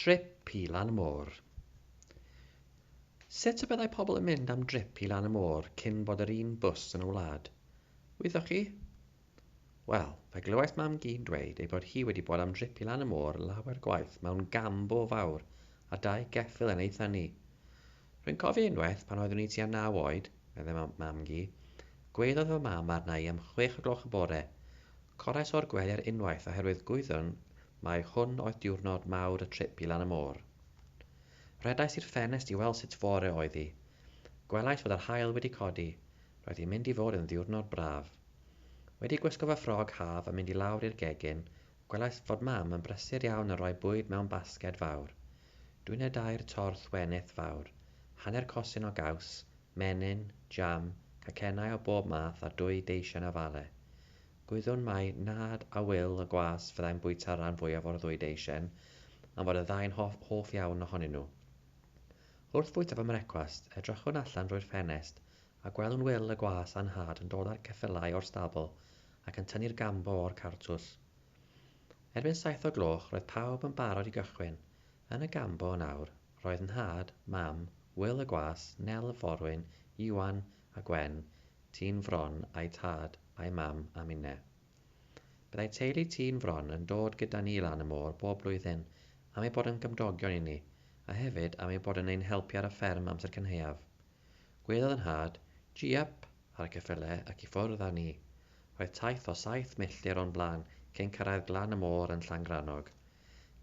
Drip i lan y môr. Sut y byddai pobl yn mynd am drip i lan y môr cyn bod yr un bws yn y wlad? Wyddoch chi? Wel, fe glywais mam-gu'n dweud ei bod hi wedi bod am drip i lan y môr lawer gwaith mewn gambo fawr a dau geffyl yn ei thynnu. Rwy'n cofio unwaith, pan oeddwn i tua naw oed, meddai mam, mam-gu, gweiddodd fy mam arna i am chwech o gloch y bore. Corais o'r gwelir unwaith oherwydd gwyddwn mai hwn oedd diwrnod mawr y trip i lan y môr. Rhedais i'r ffenest i weld sut fore oedd hi. Gwelais fod yr haul wedi codi, roedd hi'n mynd i fod yn ddiwrnod braf. Wedi gwisgo fy ffrog haf a mynd i lawr i'r gegin, Gwelais fod Mam yn brysur iawn yn rhoi bwyd mewn basged fawr. Dwi ne dair torth wenith fawr, hanner cosyn o gaws, menyn, jam, cacennau o bob math a dwy deisen o fale. Gwyddwn mai Nhad a Wil y Gwas fyddai'n bwyta'r rhan fwyaf o'r ddwy deisen am fod y ddau'n hoff hoff iawn ohonyn nhw. Wrth fwyta fy mrecwast, edrychwn allan drwy'r ffenest A gwelwn Wil y gwas a'n nhad yn dod â'r ceffylau o'r stabl ac yn tynnu'r gambo o'r cartws. Erbyn saith o gloch, roedd pawb yn barod i gychwyn. Yn y gambo yn awr, roedd nhad, mam, Wil y gwas, Nel y forwyn, Iwan, a Gwen, Tî'n Fron, a'u tad, a'u mam, a minne. Byddai teulu Tî'n Fron yn dod gyda ni lan y môr bob blwyddyn am eu bod yn gymdogion i ni, a hefyd am eu bod yn ein helpu ar y fferm amser cynhaeaf. Gwelodd y nhad, Jiap! ar y cyffyle ac i ffwrdd â ni. Roedd taith o saith milltir o'n blaen cyn cyrraedd glan y môr yn Llangrannog.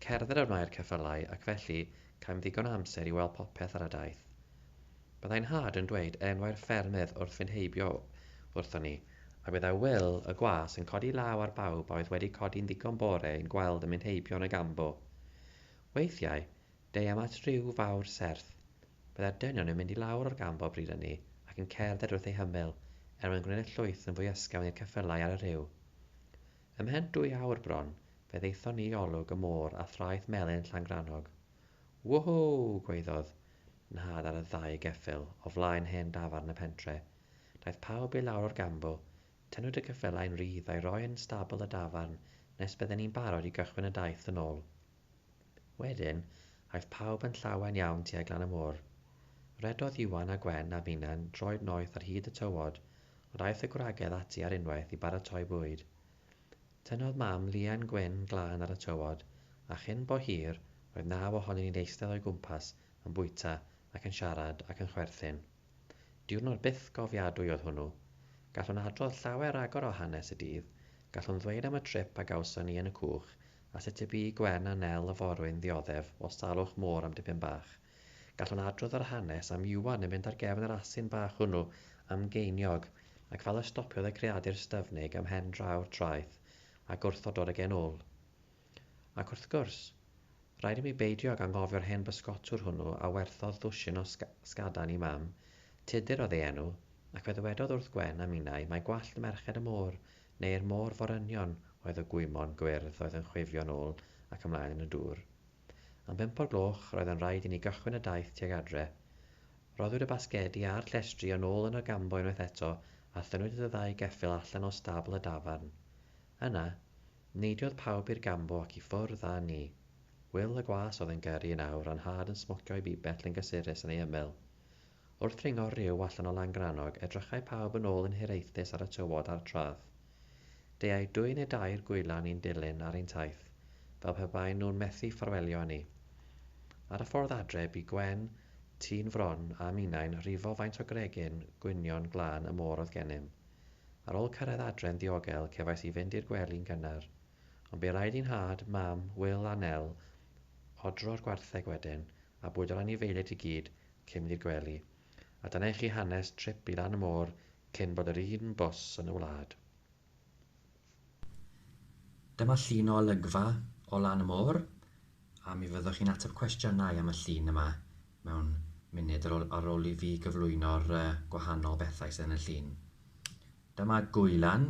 Cerdded a wnae'r ceffylau ac felly caem ddigon o amser i weld popeth ar y daith. Byddai nhad yn dweud enwau'r ffermydd wrth fynd heibio wrthon ni, a byddai Wil y gwas yn codi law ar bawb a oedd wedi codi'n ddigon bore i'n gweld yn mynd heibio yn y Gambo. Weithiau, Deuem at ryw fawr serth. Byddai'r dynion yn mynd i lawr o'r gamp o bryd ynni ac yn cerdded wrth eu hymyl, er mwyn gwneud y llwyth yn fwy ysgafn i'r ceffylau ar y rhiw. Ymhen dwy awr bron, fe ddaethon ni i olwg y môr a thraeth melyn Llangrannog. Woohoo! gwaeddodd nhad ar y ddau geffyl o flaen hen dafarn y pentre. Daeth pawb i lawr o'r gambl. Tynnwyd y ceffylau yn rydd a'i roi yn stabl y dafarn nes bydden ni'n barod i gychwyn y daith yn ôl. Wedyn, aeth pawb yn llawen iawn tuag lan y môr. Rhedodd Iwan a Gwen a finnau'n droed noeth ar hyd y tywod, ond aeth y gwragedd ati ar unwaith i baratoi bwyd. Tynnodd Mam liain gwyn glân ar y tywod, a chyn bo hir, roedd naw ohonyn ni'n eistedd o'i gwmpas yn bwyta ac yn siarad ac yn chwerthin. Diwrnod bythgofiadwy oedd hwnnw. Gallwn adrodd llawer ragor o hanes y dydd, gallwn ddweud am y trip a gawson ni yn y cwch a sut y bu i Gwen a Nel y forwyn ddioddef o salwch môr am dipyn bach. Gallwn adrodd yr hanes am Iwan yn mynd ar gefn yr asyn bach hwnnw am geiniog, ac fel y stopiodd y creadur styfnig ym mhen draw'r traeth a gwrthododd y genwl. Ac wrth gwrs, rhaid i mi beidio ag anghofio'r hen bysgotwr hwnnw a werthodd ddwsin o sgadan i Mam, Tudur oedd ei enw, ac fe ddywedodd wrth Gwen a minnau mai gwallt merched y môr neu'r môr forynion oedd y gwymon gwyrdd oedd yn chwifio yn ôl ac ymlaen yn y dŵr. Am bump o'r gloch roedd yn rhaid i ni gychwyn y daith tuag adre. Rhoddwyd y basgedi a'r llestri yn ôl yn y gambo unwaith eto a thynnwyd y ddau geffyl allan o stabl y dafarn. Yna, neidiodd pawb i'r gambo ac i ffwrdd â ni. Wil y gwas oedd yn gyrru yn awr a'n nhad yn smocio ei bibell yn gysurus yn ei ymyl. Wrth ddringo'r rhiw allan o Langrannog, edrychai pawb yn ôl yn hiraethus ar y tywod a'r tradd. Deuai dwy neu dair gwylan i'n dilyn ar ein taith, fel pe baen nhw'n methu ffarwelio â ni. Ar y ffordd adre, bu Gwen, tîn Fron, a minnau'n rhifo faint o gregyn gwynion glân y môr oedd gennym. Ar ôl cyrraedd adre'n ddiogel, cefais i fynd i'r gwely'n gynnar. Ond bu raid i nhad, mam, Wil a Nel odro'r gwartheg wedyn, a bwydo'r anifeiliaid i gyd cyn mynd i'r gwely, a dyna i chi hanes trip i lan y môr cyn bod yr un bws yn y wlad. Dyma llun o olygfa o lan y môr, a mi fyddwch chi'n ateb cwestiynau am y llun yma mewn munud ar ôl, ar ôl i fi gyflwyno'r uh, gwahanol bethau sydd yn y llun. Dyma gwylan,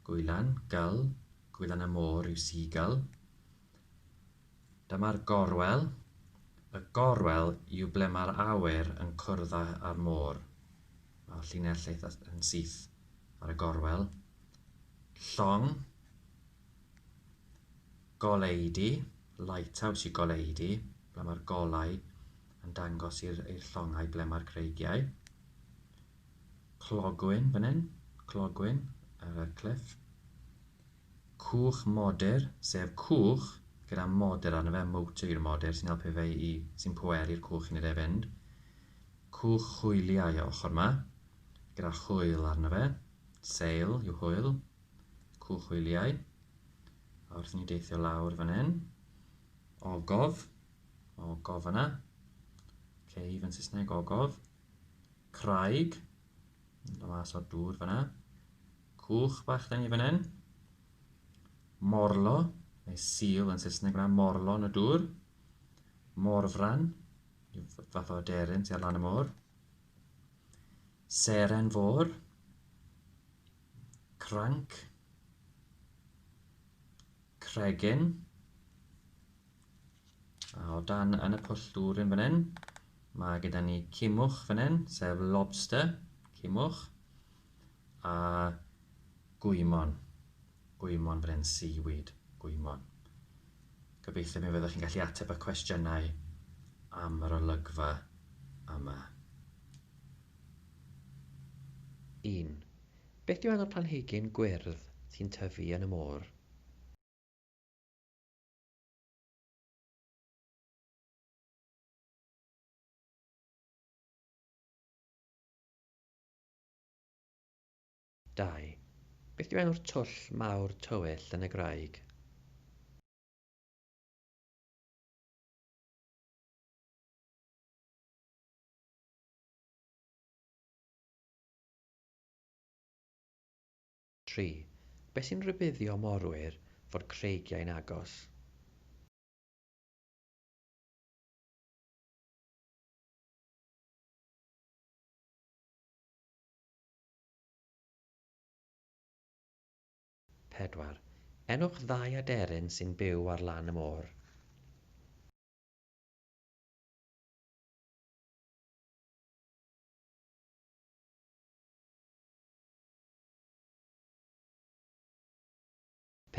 gwylan, gull, gwylan y môr yw seagull, Dyma'r gorwel. Y gorwel yw ble mae'r awyr yn cwrdd â'r môr. Mae'r llinell eitha yn syth ar y gorwel. Llong. Goleidi. Lighthouse yw goleidi, ble mae'r golau yn dangos i'r llongau ble mae'r creigiau. Clogwyn fan hyn. Clogwyn ar y cliff. Cwch modur, sef cwch gyda modur arno fe, motor yw'r modur sy'n helpu fe i, sy'n pweru'r cwch i wneud e fynd. Cwch hwyliau o ochr yma, gyda hwyl arno fe, sail yw hwyl, cwch hwyliau. A wrth i ni deithio lawr fan hyn, ogof, mae ogof yna, cave yn Saesneg, ogof, craig, yn dod mas o'r dŵr fanna, Cwch bach da ni fan hyn. Morlo, neu seal yn Saesneg yna, morlo yn y dŵr. Morfran, yw fath o aderyn sy'n ar lan y môr. Seren fôr. Cranc. Cregyn. A o dan yn y pwll dŵr yn fan hyn, mae gyda ni cimwch fan hyn, sef lobster, cimwch. A gwymon. Gwymon Bryn, seaweed, gwymon. Gobeithio mi fyddwch chi'n gallu ateb y cwestiynau am yr olygfa yma. Un. Beth yw enw'r planhigyn gwyrdd sy'n tyfu yn y môr? Dau. Beth yw enw'r twll mawr tywyll yn y graig? Tri. Beth sy'n rhybuddio morwyr fod creigiau'n agos? Pedwar, enwch ddau aderyn sy'n byw ar lan y môr.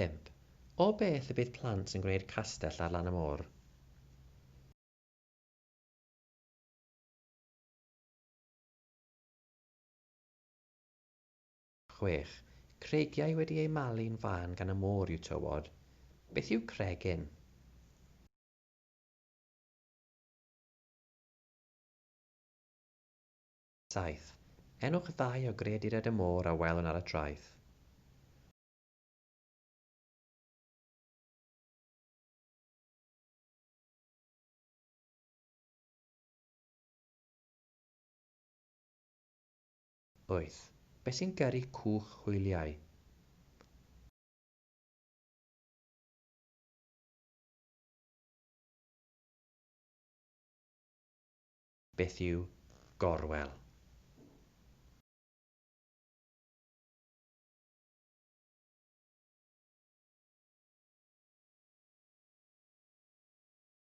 Pump, o beth y bydd plant yn gwneud castell ar lan y môr? Chwech. Creigiau wedi eu malu'n fân gan y môr yw tywod. Beth yw cregyn? Saith. Enwch ddau o greaduriaid y môr a welwn ar y traeth. Wyth. Beth sy'n gyrru cwch hwyliau? Beth yw gorwel?